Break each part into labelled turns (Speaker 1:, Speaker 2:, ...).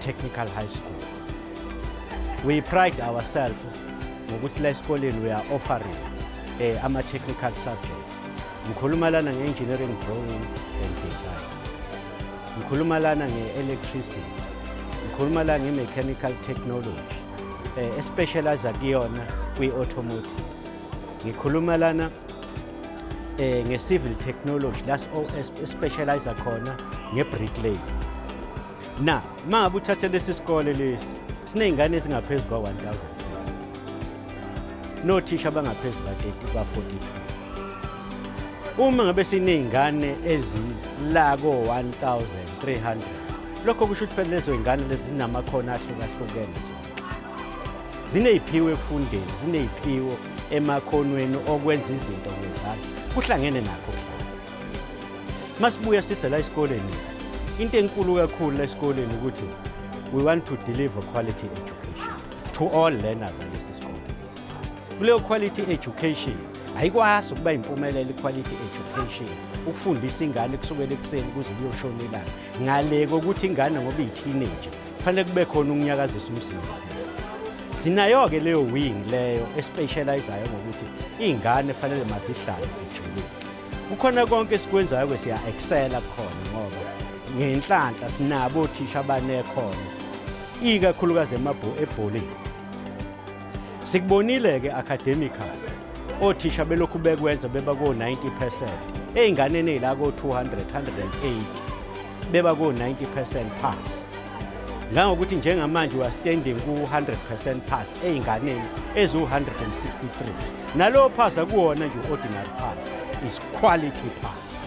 Speaker 1: Technical High School. We pride ourselves ngokuthi la esikoleni we are offering eh, ama-technical subject. Ngikhuluma lana nge-engineering drawing and design. Ngikhuluma lana nge-electricity. Ngikhuluma lana nge-mechanical technology eh, especializa kuyona kwi-automotive. Ngikhuluma lana eh, nge-civil technology la especializa khona nge-bricklay. na uma uthathe lesi sikole lesi siney'ngane ezingaphezu kwa-1000 nothisha abangaphezu kwa-42 uma ngabe siney'ngane ezila ko-1300 lokho kusho ukuthi phela lezo y'ngane lezi zinamakhono ahlukahlukene zonke ziney'phiwo ekufundeni ziney'phiwo emakhonweni okwenza izinto ngezandla kuhlangene nakho kuhlangene masibuya sise la esikoleni into enkulu kakhulu la esikoleni ukuthi we want to deliver quality education to all learners alesi sikole kuleyo quality education ayikwazi ukuba impumelelo quality education ukufundisa ingane kusukela ekuseni kuze kuyoshona ilanga ngale kokuthi ingane ngoba iyi-teenager kufanele kube khona ukunyakazisa umzimba sinayo-ke leyo wing leyo especializayo ngokuthi iy'ngane fanele mazihlale zijulile kukhona konke esikwenzayo ke siya excela khona ngoba ngenhlanhla sinabo othisha abanekhono ikakhulukazi emabhu ebholeni sikubonile ke academical othisha belokhu bekwenza beba ko 90% ezinganeni ezila ko 200 180 beba ku-90 percent pass ngangokuthi njengamanje we are standing ku-100 percent pass ey'nganeni eziwu-163 nalowo pass akuwona nje u-ordinary pass is quality pass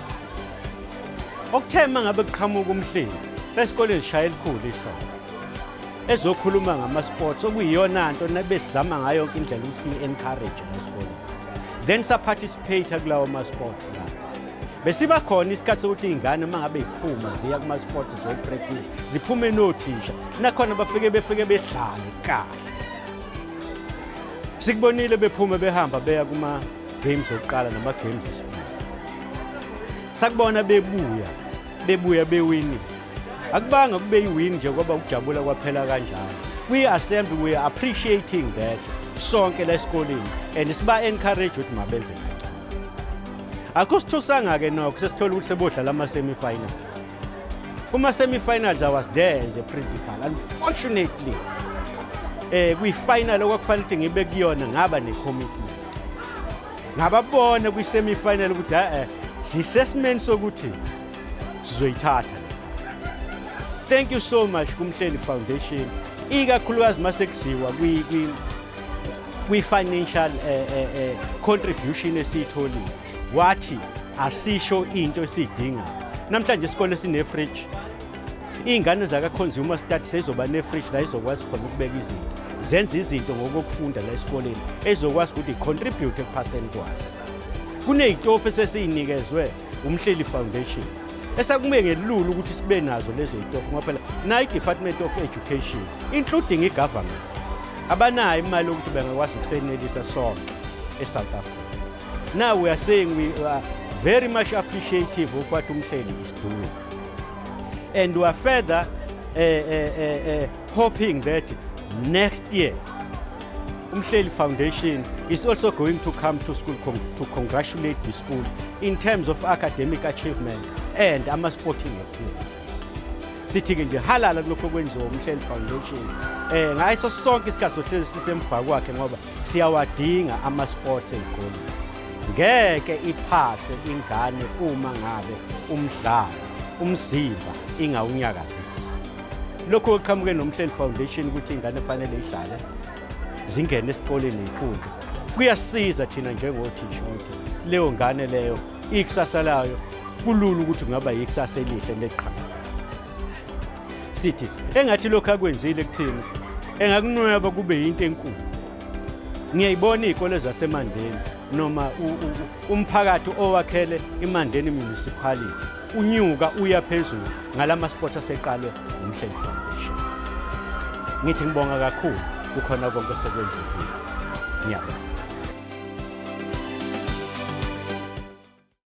Speaker 1: okuthe uma ngabe kuqhamuka umhleli esikoleni sishaya elikhulu ihlobo ezokhuluma ngama-sports okuyiyona nto nabesizama ngayo yonke indlela ukuthi siyi-encourage ngesikoleni then saparticipate kulawo ma-sports lawo besiba khona isikhathi sokuthi iy'ngane uma ngabe yiphuma ziya kuma-sport zoyi-practice ziphume nothisha nakhona bafike befike bedlale kahle sikubonile bephume behamba beya kuma-games okuqala nama-games esibili sakubona bebuya bebuya bewini akubanga kube yiwini nje kwaba ukujabula kwaphela kanjalo kwi-assembly we are appreciating that sonke la esikoleni and siba-encourage ukuthi mabenze akusithusanga-ke nokho sesithole ukuthi sebodlala ama-semifinals kuma-semifinals i was there as a principal unfortunately um kwifinal okwakufanele ukuthi ngibe kuyona ngaba ne-commitment ngababona kwi-semifinal ukuthi a-e sisesimeni sokuthi sizoyithatha thank you so much kumhleli foundation ikakhulukazi uma sekuziwa kwi-financial eh, eh, eh, contribution esiyitholile wathi asisho into esiyidinga namhlanje isikole sine-fridge iy'ngane zaka-consumer study seyizoba ne-fridge la izokwazi khona ukubeka izinto zenza izinto ngokokufunda la esikoleni ezokwazi ukuthi i-contribute ekuphaseni kwazo kuney'tofu esesiyinikezwe umhleli foundation esakumbe ngelula ukuthi sibe nazo lezo itofu ngoba phela nayi department of education including igovernment abanayo imali yokuthi bengakwazi ukusenelisa sonke esouth africa now we are saying we are very much appreciative of what umhleli is doing and we are further uh, uh, uh, uh, hoping that next year Umhleli Foundation is also going to come to school con to congratulate the school in terms of academic achievement and ama-sporting activities. Sithi-ke nje halala kulokho kwenziwa uMhleli Foundation um ngayiso sonke isikhathi sohlezi sisemva kwakhe ngoba siyawadinga ama-sports ezikoleni ngeke iphase ingane uma ngabe umdlalo umzimba ingawunyakazisa lokhu okuqhamuke nomhleli foundation ukuthi ingane efanele idlale zingene esikoleni ifunde kuyasiza thina njengothisha ukuthi leyo ngane leyo ikusasa layo kulula ukuthi kungaba yikusasa elihle neliqhakaza sithi engathi lokhu akwenzile kuthina engakunweba kube yinto enkulu ngiyayibona izikole zasemandeni noma umphakathi owakhele imandeni municipality unyuka uya phezulu ngala ma-sports aseqalwe umhleli foundation ngithi ngibonga kakhulu kukhona konke osekwenzekile ngiyabonga